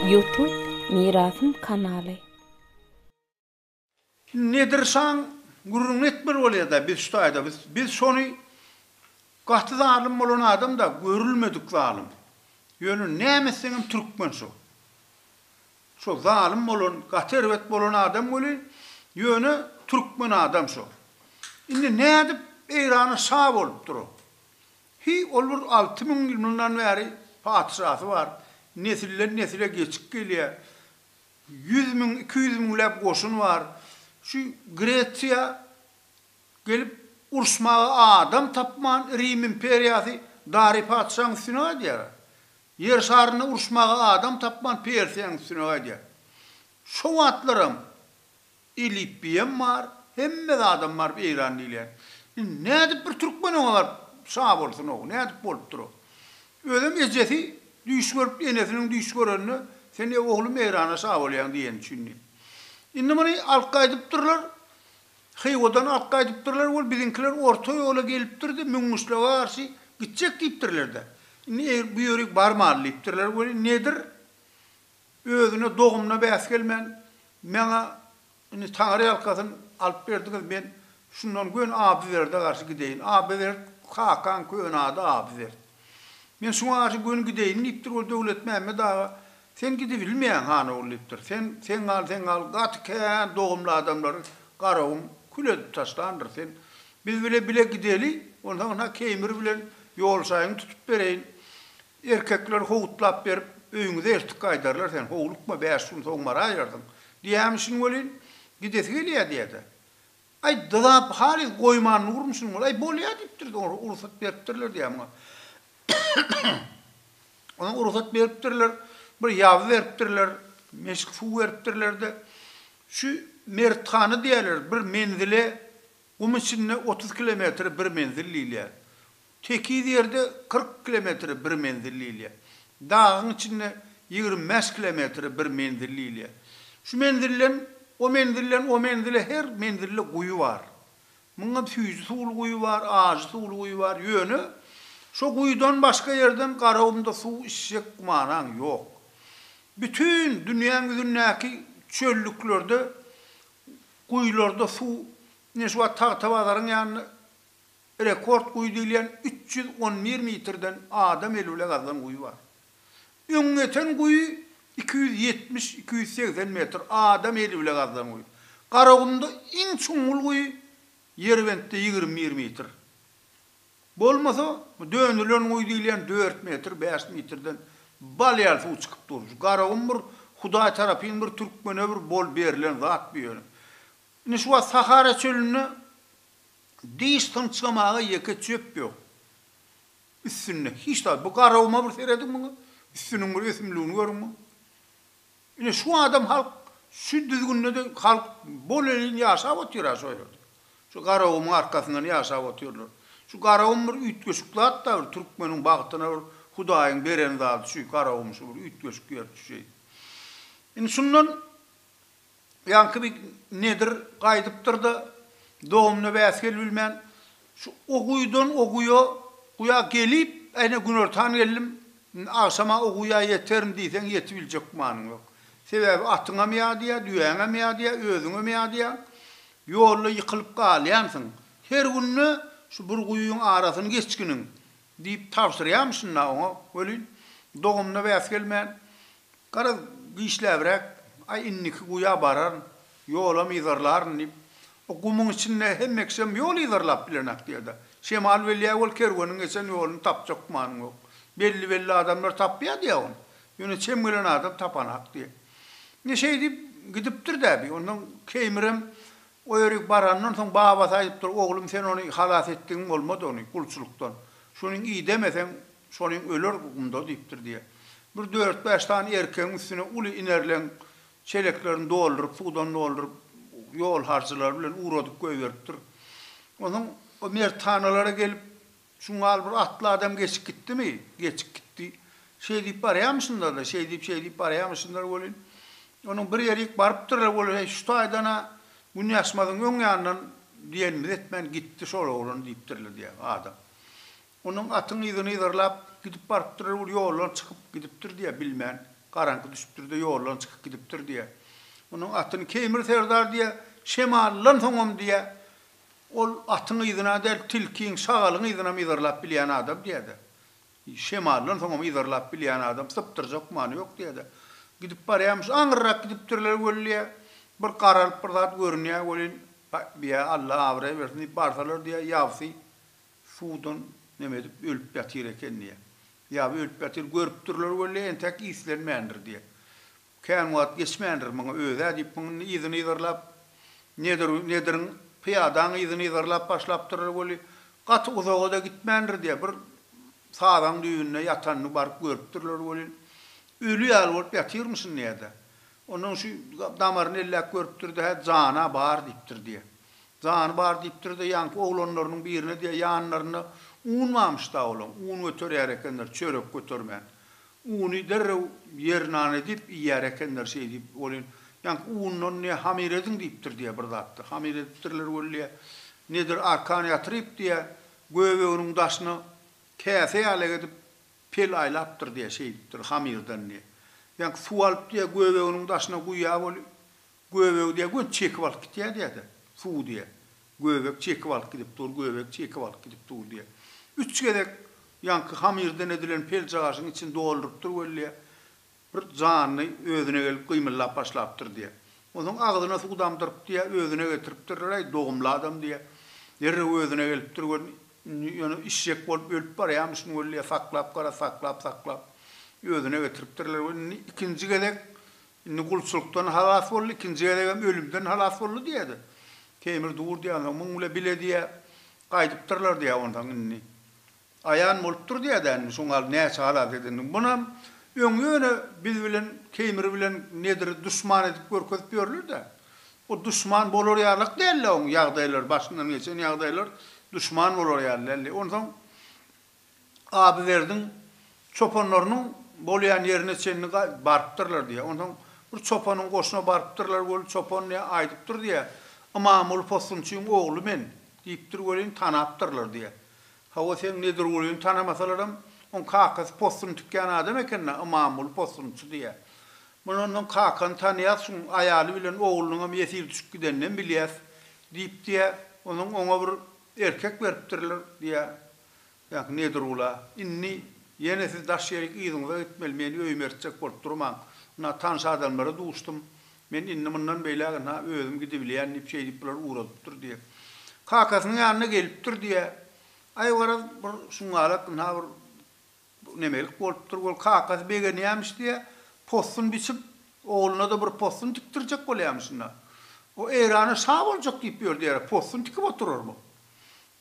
Youtube Mirasym kanaly. Nedir şaň gürrüňini etmeli bolýada biz şu taýda biz biz şony gaty zalym bolan adamda görülmedik zalym ýöne näme etseňem türkmen şu Şo zalym bolan gaty erbet bolan adam weli ýöne türkmen adam şo. Indi nädip Eýrana şa bolupdyr o. Hiý ol bir alty müň ýyl mundan bäri patyşasy bar, nesilden nesile geçip gelýä. Ýüz müň iki ýüz müňläp goşuny bar. Şu Gresiýa gelip uruşmaga adam tapman Rim imperiýasy Dary patyşaň üstüne gaýdýara. Ýer şarynda uruşmaga adam tapman Persiýanyň üstüne gaýdýar. Şo wagtlaram Elipbiýem bar, hemme zadam bar bu Eýran diýilýän. Indi nädip bir türkmen oňa baryp şa bolsun-ow, nädip bolupdyr-ow? Özem ejesi düýş görüp, enesiniň düýş görenine sen-ä oglum Eýrana şa bolýaň diýeni üçin diýip. Indi muny alyp gaýdypdyrlar, Hywadan ak gaýdypdyrlar we biziňkiler orta ýola gelipdir-de, Müňňüşlige garşy gitjek diýipdirler-de. Indi eýr bu ýörik barmaly diýipdirler we Nedir özüne dogumyna bäs gelmän, Maňa indi taňryýalkasyn alyp berdiňiz, men şundan göni Abyberde garşy gideýin. Abybert kakaň köne ady Abybert. Men şuňa garşy göni gideýin, diýipdir. Ol Döwletmämmet aga, Sen gidibilmeýäň, han ogul, diýipdir. Sen, sen gal, sen gal, gaty kän dogumly adamlary Garagum kül edip taşlandyr. Sen biz bile bile gideli, onsoň ynha Keýmir bilen ýolşaýyňy tutup bereýin. Erkekler howutlap berip, öýüňize ertik gaýdarlar. Sen howlukma, bäş gün soň baraýarsyň. Diýýämişin welin, gidesi gelýär diýýä-de. Aý, dyzap halys goýman durun şuny bol. Aý, bolýa diýipdir, soňra rugsat beripdirler diýýär muňa. Onsoň rugsat beripdirler, bir ýaby beripdirler, meşik suw beripdirler-de, Şu Merthana diýerler, bir menzile, gum içinde otuz kilometre bir menzil diýilýär. Tekiz ýerde kyrk kilometre bir menzil diýilýär. Dagyň içinde ýigrimi bäş kilometre bir menzil diýilýär. Şu menzilden o menzilden o menzile her menzilde guýy bar. Muňa süýji suwly guýy bar, ajy suwly guýy bar. Ýöne şo guýydan başga ýerden Garagumda suw içjek gumanaň ýok. Bütin dünýäň ýüzündäki çöllüklerde guýylarda suw ine şu wagt Tagtabazaryň ýanynda Rekord guýy diýilýän üç ýüz on bir metrden adam eli bile gazlan guýy bar. Öň ýeten guýy iki ýüz ýetmiş, iki ýüz segsen metr adam eli bile gazlan guýy. Garagumda iň çuňňul guýy Ýerbentde ýigrimi bir metr. Bolmasa, bu dönülen guýy diýilýän dört metr, bäş metrden bal ýaly suw çykyp dur. Şu Garagum bir Hudaý tarapyn bir türkmene bir bol berlen zat bu ýöne. Indi şu wagt Sahara çölünde Diş synçgamaga ýeke çöp ýok. Üstünde hiç zat. Bu garawuma bir serediň muňa. Üstüniň bir ösümligini görüň muň. Ine şu adam halk şu düzgünde-de halk bolelin ýaşap otyr-a şo ýerde. Şu garawumyň arkasyndan ýaşap otyrlar. Şu garawum bir üýtgeşik zat-da bir türkmeniň bagtyna bir Hudaýyň beren zady şu garawum şu bir üýtgeşik ýer şu şeýdip. Indi şundan Ýaňky bir nedir gaýdypdyr-da, dogumyna bäs gelibilmän, şu o guýudan o guýa, guýa gelip, äýne günortan geldim, indi agşama o guýa ýeterin diýseň ýetibiljek gümanyň ýok. Sebäbi atyňam ýadýar, düýäňem ýadýar, özüňem ýadýaň. Ýolda ýykylyp galýansyň. Her günde şu bir guýyň arasyny geçginiň, Diýip tabşyrýarmy şunda oňa welin, dogumyna bäs gelmän, Garaz, giçläbräk, aý, indiki guýa bararyn, ýolam yzarlaryn diýip, o gumuň içinde hemme kişem ýol yzarlap bilenok diýer-de. Şemal welýä ol kerweniň geçen ýoluny tapjak gümanyň ýok. Belli-belli adamlar tapýar diýýär ony. Ýöne çem gelen adam tapanak diýýär. Ine, şeýdip gidipdir-dä bi. Ondan Keýmirem O ýerik barandan soň babasy aýdypdyr, Oglum, sen ony halas etdigiň bolmady ony, gulçulykdan. Şunyň idemeseň, şonyň öler gumda diýipdir diýe. Bir dört-bäş sany erkegiň üstüne uly inerleň çeleklerini dolduryp, suwdan dolduryp, ýol harjylary bilen ugradyp goýberipdir. Onsoň o merthanalara gelip, Şuň ýaly bir atly adam geçip gitdimi? Geçip gitdi. Şeý diýip barýamyşynlar-da, şeý diýip-şeý diýip barýamyşynlar welin, onuň bir ýerik barypdyrlar welin, heý, şu taýdan-a Günýaşmazyň öň ýanyndan diýenimizi etmän gitdi şol oglan diýipdirler diýýär adam. Onuň atyň yzyny yzarlap gidip barypdyrlar welin, ýoldan çykyp gidipdir diýýär, bilmän. Garaňky düşüpdir-de, ýoldan çykyp gidipdir diýýär. Onuň atyny Keýmir serdar diýýär, şemaldan soňam diýýär, Ol atyň yzyna däl, tilkiň, şagalyň yzynam yzarlap bilýän adam diýýär-de. Şemaldan soňam yzarlap bilýän adam, sypdyrjak many ýok diýýär-de. Gidip barýarmyş, aňyrrak gidipdirler weli, bir garalyp bir zat görünýär welin, Bä, Alla abraý bersin diýip barsalar diýýär, ýabsy suwdan neme edip ölüp ýatyr eken diýýär. Ýaby ölüp ýatyr görüpdirler weli, entäk islenmändir diýýär. Kän wagt geçmändir, muňa özi-ä diýip muňa yzyny yzarlap, Nedir, Nediriň pyýadaň yzyny yzarlap başlapdyr weli, gaty uzaga-da gitmändir diýýär, bir sazaň düýbünde ýatanyny baryp görüpdirler welin, öli ýaly bolup ýatyrmyşyn diýýär-de. Onnoň şu damaryny elläp görüpdir-de, hä, jany-a bar diýipdir diýýär. Jany bar diýipdir-de, ýaňky oglanlarynyň birine diýýär, ýanlarynda unmamyş-da olaň, un göterýär ekenler, çörek götermän. Uny derrew ýer nan edip iýýär ekenler şeýdip welin, ýaňky undan ne hamyr ediň diýipdir diýýär bir zatda. Hamyr edipdirler wellä, nedir arkan ýatyryp diýýär, göbeginiň daşyna käse ýalak edip pel aýlapdyr diýýär şeýdipdir hamyrdan diýýär. Ýaňky suw alyp diýýär göbeginiň daşyna guýýar weli, Göbegi diýýär, Göt çekip alyp gitýär diýýär-de, suw diýýär. Göbek çekip alyp gidip dur, göbek çekip alyp gidip dur diýýär. Üç gezek ýaňky hamyrdan edilen peljagaşyň içini doldurypdyr welli, bir janly özüne gelip gymyldap başlapdyr diýýär. Onsoň agzyna suw damdyryp diýýär, özüne getiripdirler-aý, dogumly adam diýýär. Derrew özüne gelipdir, gör, indi ýöne işjek bolup ölüp barýamyşyn welli, saklap gara, saklap-saklap özüne getiripdirler we indi ikinji gezek Indi gulçulykdan halas boldy, ikinji gezegem ölümden halas boldy diýýä-de. Teýmir dur diýýänsoň, muň bile bile diýýä, gaýdypdyrlar diýýä onsoň indi. Aýan bolupdyr diýýä-dä indi, şoň al näçe halas edendigiň. Bunam öň ýöne biz bilen Teýmir bilen Nediri duşman edip görkezip ýörler-dä. O duşman bolar ýalyk däldi oň ýagdaýlary, başyndan geçen ýagdaýlar duşman bolar ýaly däldi. Onsoň Abywerdiň çopanlarynyň bolýan ýerine çenli barypdyrlar diýýär. Onsoň bir çopanyň goşuna barypdyrlar welin, çopan ne aýdypdyr diýýär, Ymamguly possunçyň ogly men diýipdir welin, tanapdyrlar diýýär. Hawa, seň Nedirgulyny tanamasalaram, oň kakasy possun tikýän adam eken-dä, Ymamguly possunçy diýýär. Muna onsoň kakany tanaýas, şuň aýaly bilen oglunyňam ýesir düşüp gideninem bilýäs diýip diýýär. Onsoň oňa bir erkek beripdirler diýýär. Ýa, Nedirgula, indi ýene siz daş ýerik yzyňyza gitmeli, meni öýüme ertjek bolup durmaň. Ynha, tanyş adamlara duşdum. Men indi mundan beýläk ynha özüm gidibilýän diýip, şeýdip bular ugradypdyr diýýä. Kakasynyň ýanyna gelipdir diýýä. Aý, garaz, bir şuňňalak ynha bir Bu nemelik bolupdyr, ol kakasy begenýämiş diýýä, possun biçip, ogluna-da bir possun tikdirjek bolýamyşyn-da. O Eýrana şa boljak diýip ýördi ýa-da possun tikip oturar bu.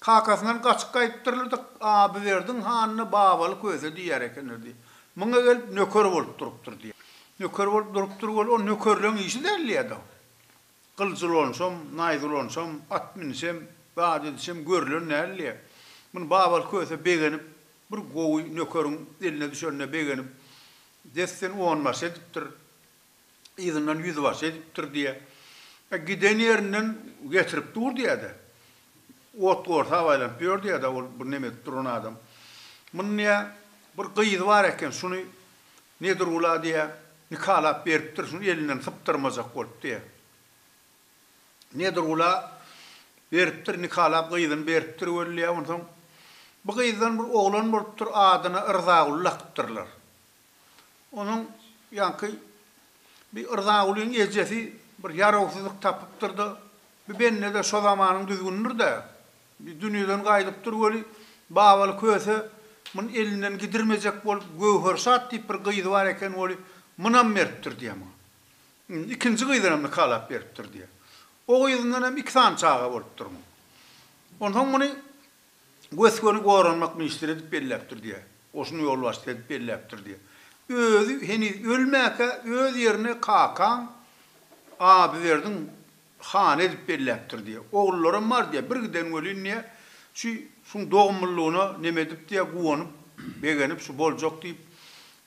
Kakasyndan gaçyp gaýypdyrlar-da, Abywerdiň hanyna babaly köse diýýär ekenler diýýä. Muňa gelip nöker bolup durupdyr diýýä. Nöker bolup durupdyr, ol nökerleň işi däl diýýä-de. Gylyç ulanyşam, naýza ulanyşam, at münüşem, zat edişem görülen däldi. Muny Babaly Köse begenip, bir gowy nökeriň eline düşenine begenip, desten onbaşy edipdir, yzyndan ýüzbaşy edipdir diýýär. E, giden ýerinden getirip dur diýýär-de, ot-gorsap aýlanyp ýör diýýär-de ol bir neme edip duran adam. Munuň diýýär, bir gyzy bar eken, şuny Nedirgula diýýä, nikalap beripdir, şuny elinden sypdyrmajak bolup diýýä. Nedirgula beripdir, nikalap gyzyny beripdir weli diýýä, onsoň bu gyzdan bir oglan bolupdyr, adyna Yrzaguly lakypdyrlar. Onuň ýaňky bi Yrzagulyň ejesi bir ýarawsyzlyk tapypdyr-da, bi bende-de şo zamanyň düzgünidir-dä, Dünýeden gaýylypdyr weli, Babaly Köse muny elinden gidirmejek bolup, Göwherşat diýip bir gyzy bar eken weli, munam mertdir diýýär muňa. Indi ikinji gyzynam nikalap beripdir diýýär. O gyzyndan hem iki sany çaga bolupdyr muň. Onsoň muny gös-göni goranmak ministri edip belläpdir diýýär. Goşun ýolbaşçysy edip belläpdir diýýär. Özi heniz ölmäkä öz ýerine kakaň Abyberdiň Hany edip belläpdir diýýä. Ogullaram bar diýýä. Bir giden welin diýýä, şu şuň dogumlylygyna neme edip diýýä, guwanyp, begenip, şu boljak diýip,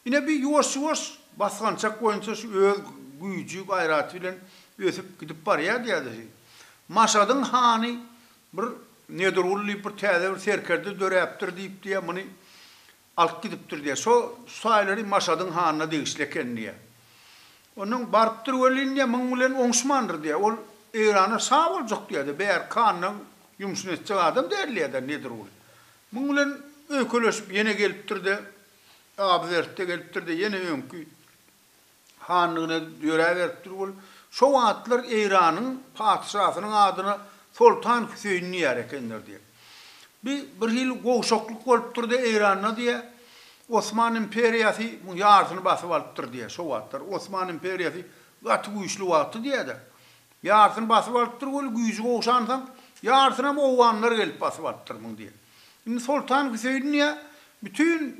ine bir ýuwaş-ýuwaş basgançak boýunça şu öz güýji, gaýraty bilen ösüp gidip barýa diýýä-de şu. Maşadyň hany bir Nedirguly diýip bir täze bir serkerde döräpdir diýip diýýä, muny alyp gidipdir diýýär. Şo şaýylary Maşadyň hanyna degişli eken diýýär. Ondan barypdyr welin diýýär, munuň bilen oňuşmandyr diýýär. Ol Eýrana şa boljak diýýär-de, bärki hanyň ýumşuny etjek adam däl diýýär-de Nedirguly. Munuň bilen öýkeleşip ýene gelipdir-de, Abyzertde gelipdir-de, ýene öňki hanlygyna döräberip dur bol. Şo wagtlar Eýranyň patyşasynyň adyna Soltan Hüseýin diýer ekenler diýer. Bi bir hili gowşaklyk bolupdyr diýer Eýranda diýer. Osman imperiýasy muň ýarsyny basyp alypdyr diýer şo wagtlar. Osman imperiýasy gaty güýçli wagty diýer-de. Ýarsyny basyp alypdyr weli güýji gowşansoň, ýarsynam owganlar gelip basyp alypdyr muny diýýär. Indi Soltan Hüseýin diýýär, bütin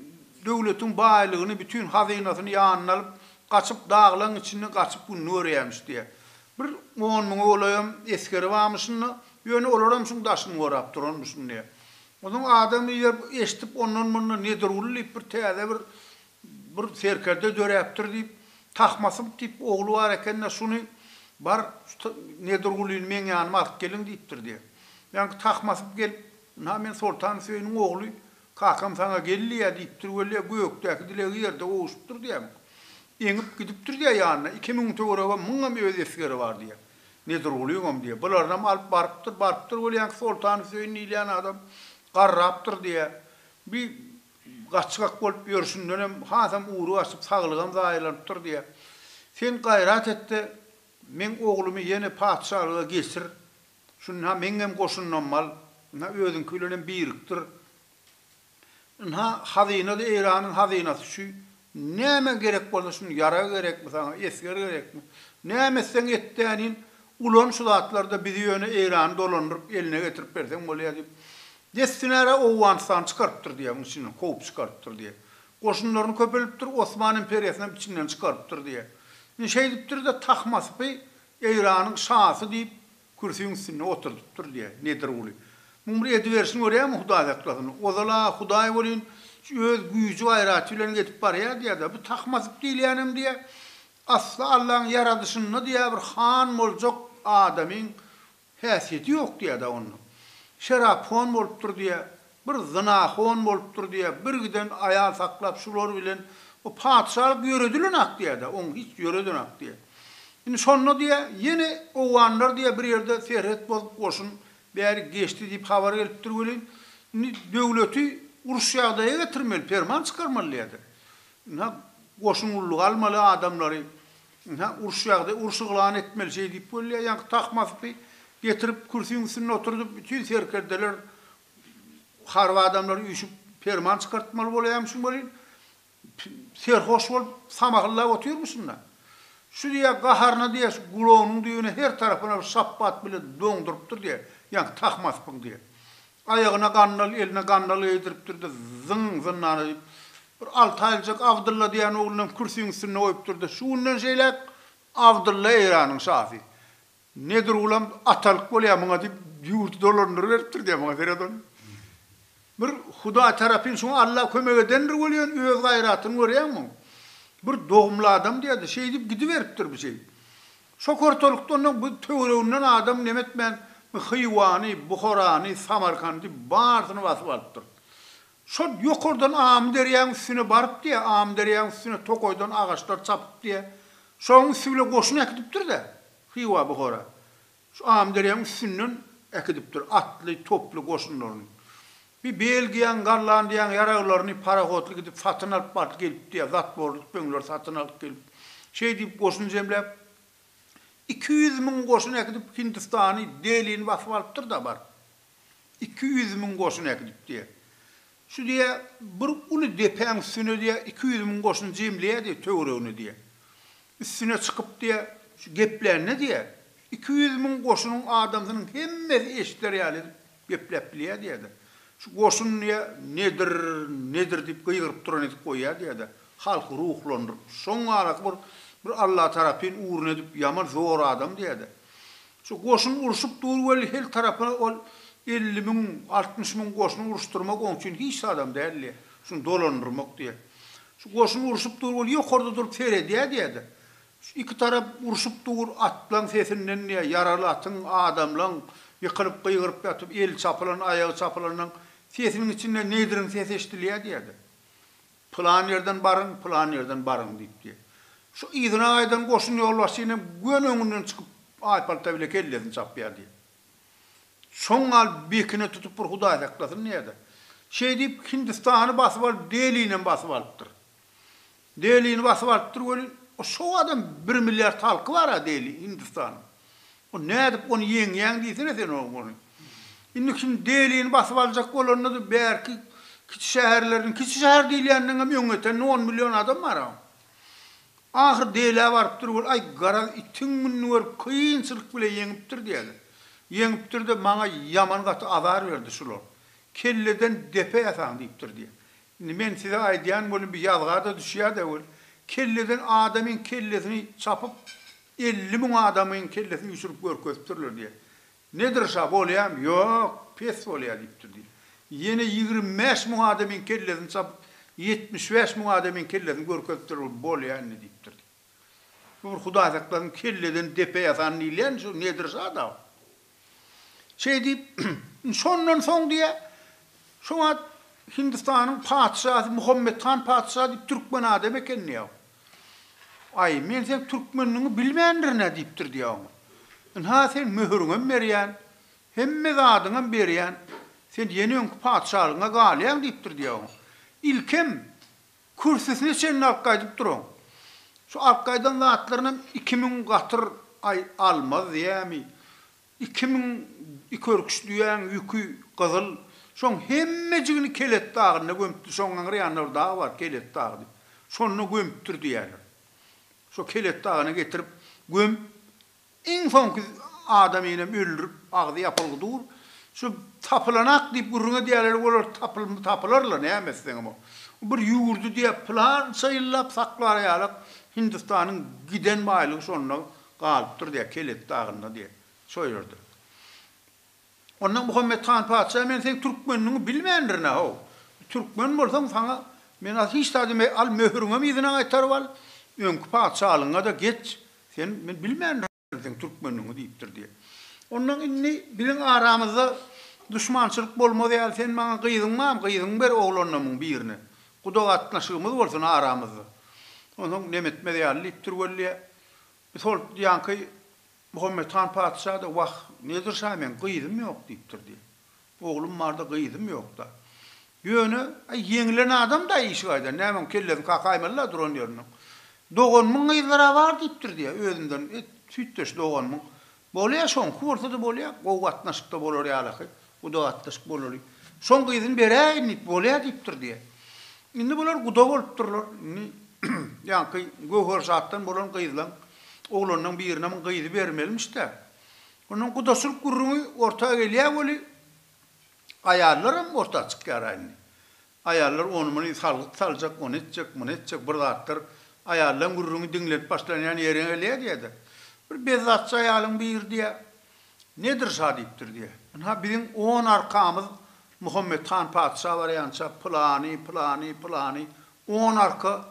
döwletiň baýlygyny, bütin hazynasyny ýanyna alyp, gaçyp daglaň içinde gaçyp gününi görýämiş diýýär. Bir on müňe golaýam esgeri barmyşynda, ýöne olaram şuň daşyny gorap duranmyşyn diýýär. Onsoň adam eýer eşidip ondan-mundan Nedirguly diýip bir täze bir Bir serkerde döräpdir diýip, Tahmasyp diýip ogly bar eken-de, şuny bar, şu Nedirgulyny meň ýanyma alyp geliň diýipdir diýýär. Ýaňky Tahmasyp gelip, Ynha, men Soltan Hüseýiniň ogly, kakam saňa gel diýýär diýipdir weli, gökdäki dilegi ýerde gowuşypdyr diýýär. Eňip gidipdir diýýär ýanyna, iki müň töweregem, müňem öz esgeri bar diýýär. Nedirgulyňam diýýär. Bularyňam alyp barypdyr, barypdyr weli, ýaňky Soltan Hüseýin diýilýän adam garrapdyr diýýär. Bi Gaçgak bolup ýörşündenem hasam ugry gaçyp, saglygam zaýalanypdyr diýýär. Sen gaýrat et-de, meň oglumy ýene patyşalyga geçir. Şunda meňňem goşunymam al. Ynha, özüňki bilenem birikdir. Ynha, hazyna-da Eýranyň hazynasy şu Näme gerek bolsa şuny ýarag gerekmi saňa esger gerekmi näme etseň et däniýn ulan şu zatlarda bizi ýöne Eýrany dolandyryp eline getirip berseň bolýa diýip dessinara Owganystany çykarypdyr diýä munuň içinden kowup çykarypdyr diýä goşunlaryny köpelipdir Osman imperiýasynam içinden çykarypdyr diýä ine şeýdipdirde Tahmaspy Eýranyň şasy diýip Kürsüň üstünde oturdypdyr, diýýä, Nedirguly. Muň bir ediberşini görýämi, Hudaý saklasyn. Ozal-a Hudaý welin, öz güýji-gaýraty bilen gezip barýa, diýýä-de, bu Tahmasyp diýilýänem, diýýä, asly Allaň ýaradyşynda, diýýä, bir han boljak adamyň häsiýeti ýok, diýýä-de, onda. Şerap hon bolupdyr, diýýä, Bir zynahon bolupdyr diýä, birgiden aýal saklap şular bilen bu patyşalyk ýöredilenak diýä-de, oň hiç ýöredenak diýä. Indi şonda diýä, ýene owganlar diýä bir ýerde serhet bozup goşun bäri geçdi diýip habar gelipdir welin, indi döwleti uruş ýagdaýa getirmeli, perman çykarmaly diýä-de. Ynha, goşun gullugy almaly adamlary, ynha, uruş ýagdaý, uruş yglan etmeli şeýdip welin diýä, ýaňky Tahmaspy getirip kürsiň üstünde oturdyp, bütin serkerdeler Harby adamlar üýşüp perman çykartmaly bolýamyşyn welin, serhoş bolup samahyllap otyrmyşyn-da. Şu diýýär, gaharyna diýýär, şu gulagynyň düýbüne her tarapyna bir şapbat bilen doňdurypdyr diýýär, ýaňky tahmaspyň diýýär. Aýagyna gandal, eline gandal geýdiripdir-de, zyň, zyndana diýip, bir alty aýlyjak Abdylla diýýän ogluny hem kürsiniň üstünde goýupdyr-da, şu günden şeýläk Abdylla Eýranyň şasy. Nedir ulam atalyk bolýa muňa diýip ýurdy dolandyryberipdir diýä muňa seret ony. Bir Hudaý tarapyn şuňa Alla kömek edendir welin öz gaýratyny görýäňmi? Bir dogumly adam diýerdi, şeýdip gidiberipdir bu şeýdip. Şo kortalykda ondan bu töwereginden adam neme etmän, bu Hywany, Buharany, Samarkandy barsyny basyp alypdyr. Şol ýokardan Amyderýaň üstüne baryp diýä, Amyderýaň üstüne tokaýdan agaçlar çapyp diýä, şoň üsti bilen goşun äkidipdir-dä Hywa Buhara. Şu Amyderýaň üstünden äkidipdir atly, toply goşunlaryny. Bir Belgiýaň, Gollandiýaň ýaraglaryny parohodly gidip satyn alyp baryp gelip diýä, zatworly tüpeňleri satyn alyp gelip. Şeý diýip goşun jemläp, iki ýüz müň goşun äkidip Hindistany, Delini basyp alypdyr-da baryp. Iki ýüz müň goşun äkidip diýýä. Şu diýýä, bir uly depäň üstüne diýýä, iki ýüz müň goşun jemleýä diýýä, töweregine diýýä. Üstüne çykyp diýýä, şu geplände diýýä, iki ýüz müň goşunyň adamsynyň hemmesi eşider ýaly edip gepläp bilýä diýýä-de, şu goşun diýýä, nedir, nedir diýip gygyryp duran edip goýýa diýýä-de, halky ruhlandyryp, şoň araky bir bir Allatarapyn ugruna edip ýaman zor adam diýýä-de. Şu goşun urşup dur weli hil tarapa ol elli müň, altmyş müň goşun uruşdyrmak oň üçin hiç zadam däl diýýär. Şuny dolandyrmak diýýär. Şu goşun urşup dur weli ýokarda durup seredýär diýýär-de. Şu iki tarap urşup dur, atlaň sesinden diýýär, ýaraly atyň, adamlaň ýykylyp gygyryp ýatyp, eli çapylan, aýagy çapylanlaň sesiniň içinden neýdiriň sesi eşidilýär diýýär-de. Pylan ýerden baryň, pylan ýerden baryň, diýipdi. Şu yzyna gaýdan goşun ýolbaşçyny hem göni öňünden çykyp, aýpalta bile kellesini çapýardy. Şoň gal bekine tutup bir Hudaý saklasyn diýýärdi. Şeý diýip, Hindistany basyp alyp, Delini hem basyp alypdyr. Delini basyp alypdyr welin, şobada hem bir milliard halky bar-a Deli, Hindistanyň. O nädip ony ýeňýäň diýsene sen oň ony. Indi kim Delini basyp aljak bolanda-da bärki kiçi şäherlerden, kiçi şäher diýilýändeňem öň ýetende on million adam bar-a. Ahyr Delä barypdyr ol, aý garaz itiň gününi görüp kynçylyk bile ýeňipdir diýeli. Ýeňipdir-de maňa ýaman gaty azar berdi şular. Kelleden depe ýasaň diýipdir diýýä. Indi men size aýdýan welin bir ýazga-da düşýä-dä weli. Kelleden adamyň kellesini çapyp Elli müň adamyň kellesi üýşürip görkezipdirler diýýär. Nedir şa, bolýamy? Ýok, pes bolýar diýipdir diýýär. Ýene ýigrimi bäş müň adamyň kellesini çapyp, ýetmiş bäş müň adamyň kellesini görkezipdir, ol bolýar indi diýipdir diýýär. Bu bir hudaýsaklaryň kelleden depe ýasan diýilýän şu Nedir şa-da. Şeý diýip, şondan soň diýýär, şo wagt Hindistanyň patyşasy Muhammet han patyşa diýip türkmen adam eken diýýär. Aý, men seň türkmenligiňi bilmändirin-ä diýipdir diýýär oňa. Ynha, sen möhüriňem berýän, hemme zadyňam berýän, sen ýene öňki patyşalygyňa galýaň diýipdir diýýär oňa. Ilkem Kürsüsine çenli alyp gaýdyp duran. Şu alyp gaýdan zatlarynam iki müň gatyr aý almaz diýýämi, iki müň iki örküç düýäň ýüki gyzyl, şoň hemmejigini Kelet dagynda gömüpdir, şoň aňry ýanynda bir dag bar, Kelet dagy diýip, şonda gömüpdir diýýärler. Şo Kelet dagyna getirip gömüp, Iň soňky adamy enem öldürip agzy ýapylgy dur. Şu tapylanak diýip gürrüň edýärler olar tapylmy tapylarla näme etseňem o. Bir ýurdy diýäp pylança ýyllap saklar ýalak Hindistanyň giden baýlygy şonda galypdyr diýä Kelet dagynda diýä şo ýerde. Onda Muhammet han patyşa men seň türkmenligiňi bilmändirin-ä, how, türkmen bolsaň saňa men az hiç zat diýmeýän, al möhüriňem yzyna gaýtaryp al, öňki patyşalygyňa-da geç, sen, men bilmändirin seň türkmenligiňi diýipdir diýip. Ondan indi biziň aramyzda duşmançylyk bolmaz ýaly sen maňa gyzyň bam, gyzyňy ber oglanlarymyň birine, guda gatnaşygymyz bolsun aramyzda, onsoň nemetmez ýaly diýipdir weli, biz hol ýaňky Muhammet han patyşa-da, Wah, Nedir şa meň gyzym ýok diýipdir diýip. Oglum bar-da, gyzym ýok-da. Ýöne, aý, ýeňilen adam-da işigaýdan, nämeň kellesini kakaýmaly-la duran ýerinden. Doganymyň gyzlary-a bar diýipdir diýýär, özümden, et, süýtdeş doganymyň. Bolýa, şoňky bolsa-da bolýa, gowy gatnaşykda bolar ýalaky. Guda atlaşyp bolaly. Şoň gyzyny beräýin diýip, bolýa diýipdir diýýär. Indi bular guda bolupdyrlar. Indi ýaňky Göwherşatdan bolan gyzlaň oglanlaň birine muň gyzy bermelimiş-dä. Onnoň gudaçylyk gürrüňi orta gelýä weli, aýallaram orta çykýar-a indi. Aýallar ony-muny salgyt saljak, ony etjek, muny etjek bir zatlar aýallaň gürrüňi diňlenip başlanýan ýeriňe lediýe-de, bir bezzatçy aýalyň biri diýýär, Nedir şa diýipdir diýýär. Ynha, biziň on arkamyz Muhammet han patyşa barýança pylany, pylany, pylany, on arka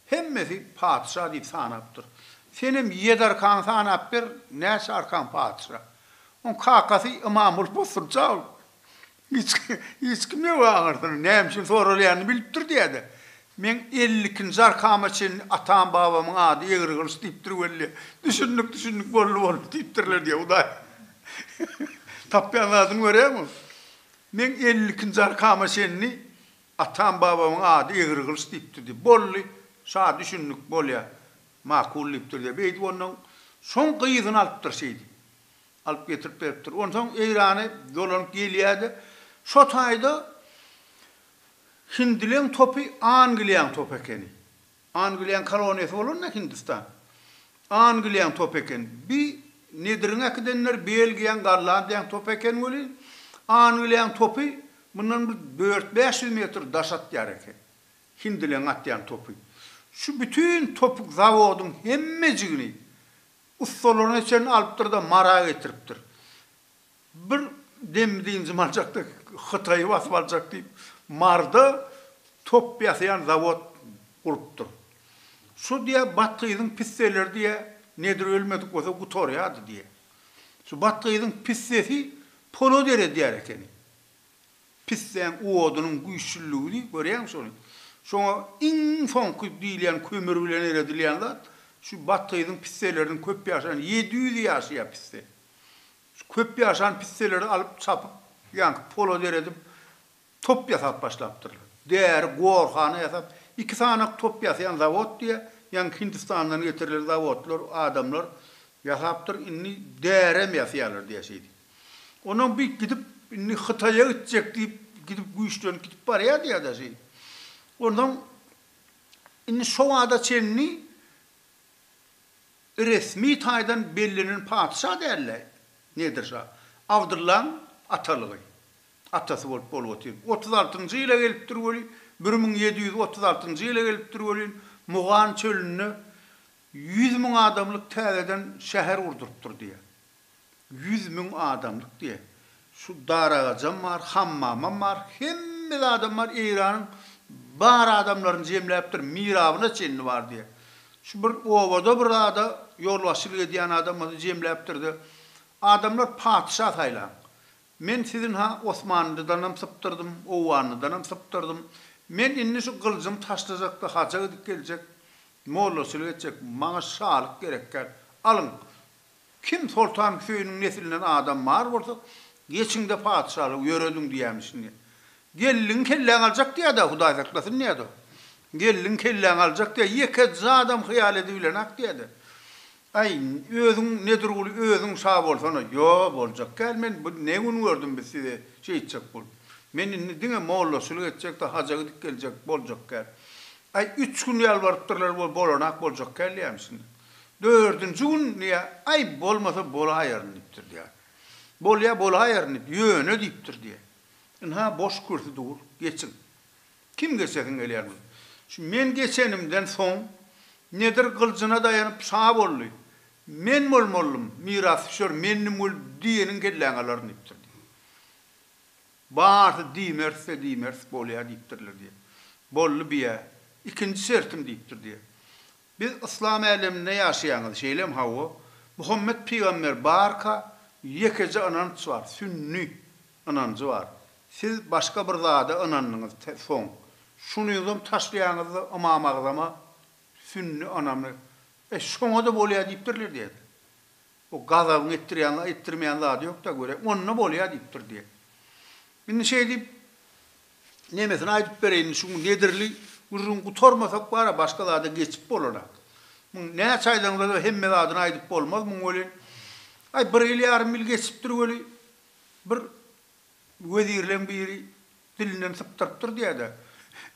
hemmesi patyşa diýip sanapdyr. Senem ýedi arkaňy sanap ber, näçe arkaň patyşa. Oň kakasy Ymamguly bosgunça ol. Hiç kim, hiç kim ýok aňyrsyny, näme üçin soralýanyny bilipdir diýýä-de. Meň elli ikinji arkama çenli atam-babamyň ady Egrigylyç diýipdir weli. Düşündik, düşündik, boldy, boldy diýipdirler diýýä, Hudaý. Tapýan zadyňy görýäňmi? Meň elli ikinji arkama çenli atam-babamyň ady Egrigylyç diýipdir diýip, boldy, şa düşündik, bolýa, makul diýipdir diýip, eýdip ondan soň gyzyny alypdyr şeýdip. alyp getirip beripdir. Onsoň Eýrany dolanyp gelýär-de, şo taýda hindileň topy Angliýaň topy ekeni. Angliýaň koloniýasy bolanda Hindistan. Angliýaň topy eken. Bi Nediriň äkidenleri Belgiýaň, Gollandiýaň topy eken welin, Angliýaň topy mundan bir dört-bäş ýüz metr daş atýar eken. Hindileň atýan topy. Şu bütin topuk zawodyň hemmejigini Ussalaryna çenli alypdyr-da, Mara getiripdir. Bir dem dynjym aljakda Hytaýy basyp aljak diýip, Marda top ýasaýan zawod gurupdyr. Şu diýe bat gyzyň pisseleri diýe nedir ölmedik bolsa gutarýardy diýe. Şu bat gyzyň pissesi polodere diýer ekeni. Pissäň odunyň güýçlüligini görýäňmi şony? Şoňa iň soňky diýilýän kömür bilen eredilýän zat, şu bathyzyň pisseleriniň köp ýaşan, ýedi ýüz ýaşaýar pisse. Şu köp ýaşan pisseleri alyp çapyp, ýaňky polad eredip, top ýasap başlapdyrlar. Däri, gorhana ýasap, iki sanak top ýasaýan zawod diýýär, ýaňky Hindistandan getirilen zawodlar, adamlar ýasapdyr, indi därem ýasaýarlar diýýär şeýdip. Onam bir gidip indi Hytaýa gitjek diýip gidip güýçlenip gidip barýardy ýa-da şeý. Onsoň indi şo wagta çenli resmi taýdan bellenen patyşa däldi Nedir şa. Abdyllaň atalygy. Atasy bolup bolup otyr. Otuz altynjy ýyla gelipdir welin, bir müň ýedi ýüz otuz altynjy ýyla gelipdir welin, Mugan çölünde ýüz müň adamlyk täzeden şäher gurdurypdyr diýýär. Ýüz müň adamlyk diýe. Şu daragajam bar, hammamam bar, hemme zadam bar, Eýranyň bar adamlaryny jemläpdir, mirabyna çenli bar diýe. Şu bir obada bir zada ýolbaşçylyk edýän adamyny jemläpdir-de, Adamlar patyşa saýlaň. Men sizinha Osmanlydanam sypdyrdym, Owganlydanam sypdyrdym. Men indi şu gylyjym taşlajak-da haja gidip geljek, mollaçylyk etjek. Maňa şalyk gerekgär. Alyň, Kim Soltan Hüseýiniň neslinden adam bar bolsa, geçiň-de patyşalygy ýörediň diýýämişin. Gelniňi kelläňi aljak diýýä-dä, Hudaý saklasyn diýýä-de. Gelniňi kelläňi aljak diýýä, ýeke zadam hyýal edibilen-ak diýýä-de. Aý, özüň Nedirguly, özüň şa bolsana. Ýo, boljak däl, men bu ne gün gördüm biz sizi şeýtjek bolup. Men indi diňe mollaçylyk etjek-de, haja gidip geljek, boljak däl. Aý, üç gün ýalbarypdyrlar, ol bolan-ak, boljak däl diýýämişin. Dördünji gün diýýär, Aý, bolmasa bolaýaryn diýipdir diýýär. Bolýar, bolaýaryn diýip, ýöne diýipdir diýýär. Ynha, boş kürsi dur, geçiň. Kim geçesiň gelýär muny? Şu men geçenimden soň Nedir gyljyna daýanyp şa boldy. Men bolmalydym, mirasdüşer mendim weli diýeniň kelläňi alaryn diýipdir diýýär. Barsa diýmeris-de diýmeris, bolýar diýipdirler diýýär. Boldy biýä, ikinji şertim diýipdir diýýär. Biz yslam äleminde ýaşaýaňyz şeýlem hawa Muhammet pygamber barka ýekeje ynanç bar sünni ynanjy bar siz başga bir zada ynandyňyz soň şunyňzam taşlaýaňyzda ymam agzama sünni ynamy e şoňada bolýa diýipdirler diýäýdi. O gazabyň etdirýän, etdirmeýän zady ýok-da, görä, onda bolýa diýipdir diýýä. Indi şeý diýip, nemesini aýdyp bereýin, şu nedirli gürrüň gutarmasak bar-a, başga zada geçip bolanok. Muň näçe aýdaňda-da hemme zadyny aýdyp bolmaz muň welin. Aý, bir ýyl ýarym ýyl geçipdir weli, bir wezirleň biri Dilinden sypdyrypdyr diýä-de,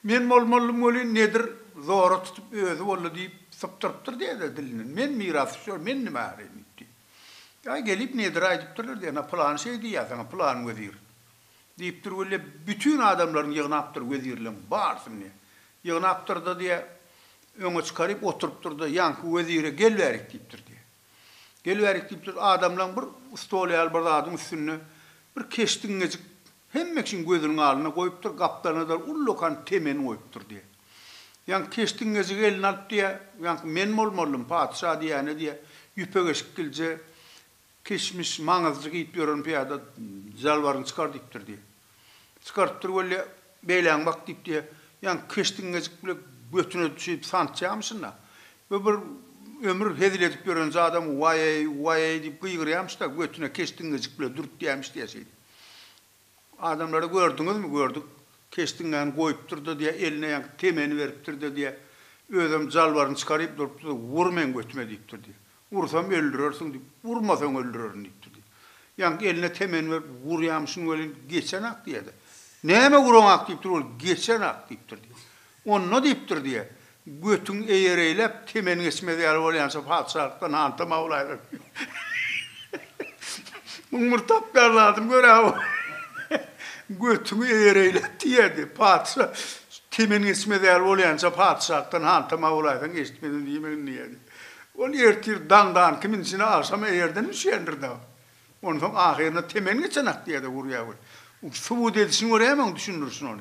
Men bolmalydym welin, nedir, zora tutup özi boldy diýip, sypdyrypdyr diýä-de dilinden. Men mirasy şol, men nime äreýin diýip diý. Ýa gelip nedir aýdypdyrlar diýä, Ana, pylany şeý diýýä saňa, pylan wezir, diýipdir weli, bütin adamlaryny ýygnapdyr, wezirleriň barysyny diýä. Ýygnapdyr-da diýä, öňe çykaryp oturypdyr-da, ýaňky wezire gel bärik diýipdir diýä. Gelibärik diýipdir. Adamlaň bir stol ýaly bir zadyň üstünde bir keşdi iňňejik hemme kişiň gözüniň alnynda goýupdyr, gapdalyna-da ullakan temen goýupdyr diýýär. Ýaňky keşdi iňňejigi eline alyp diýýär, Ýaňky men bolmalydym patyşa diýýäne diýýär, ýüpek eşikgilje, kişmiş, maňyzjy geýip ýören pyýada jalbaryňy çykar diýipdir diýýär. Çykaryp dur weli, beýläň bak diýip diýýär. Ýaňky keşdiň ngejik bile götüne düşüp santýamyşyn-da. Bu bir ömür hezil edip ýören zadam waý-eý, waý-eý diýip gygyrýamyş-da, götüne keşdiň ngejik bile dürtýämiş diýýär şeýdip. Adamlary gördüňizmi? Gördük. Keşdiňňäni goýupdyr-da diýýär, eline ýaňky temeni beripdir-de diýýär. Özem jalbaryny çykaryp durupdyr-da, Wur meň götüme diýipdir diýýär. Ursam öldürersiň diýip, urmasaň öldürerin diýip durdy. Ýaňky eline temeni berip, urýamyşyn welin, geçenak diýýä-de. Näme uraňak diýip dur, ol geçenak diýip durdy. Onda diýip dur diýýä, götüň eýereýläp, temen geçmez ýaly bolýança patyşalykdan antama bolaýlar diýýä. Muň bir tapýan zadyny gör-ä bu. Götüňi eýereýläp diýýädi. Patyşa temen geçmez ýaly bolýança patyşalykdan antama bolaýsaň, eşitmedim diýmegin diýýädi. Ol ertir daňdan kimin içine agşam eýerden düşýändir dagy. Onsoň ahyryna temen geçen ak diýýär-de urýar we subut edişini görýärmiň düşündirişini ony.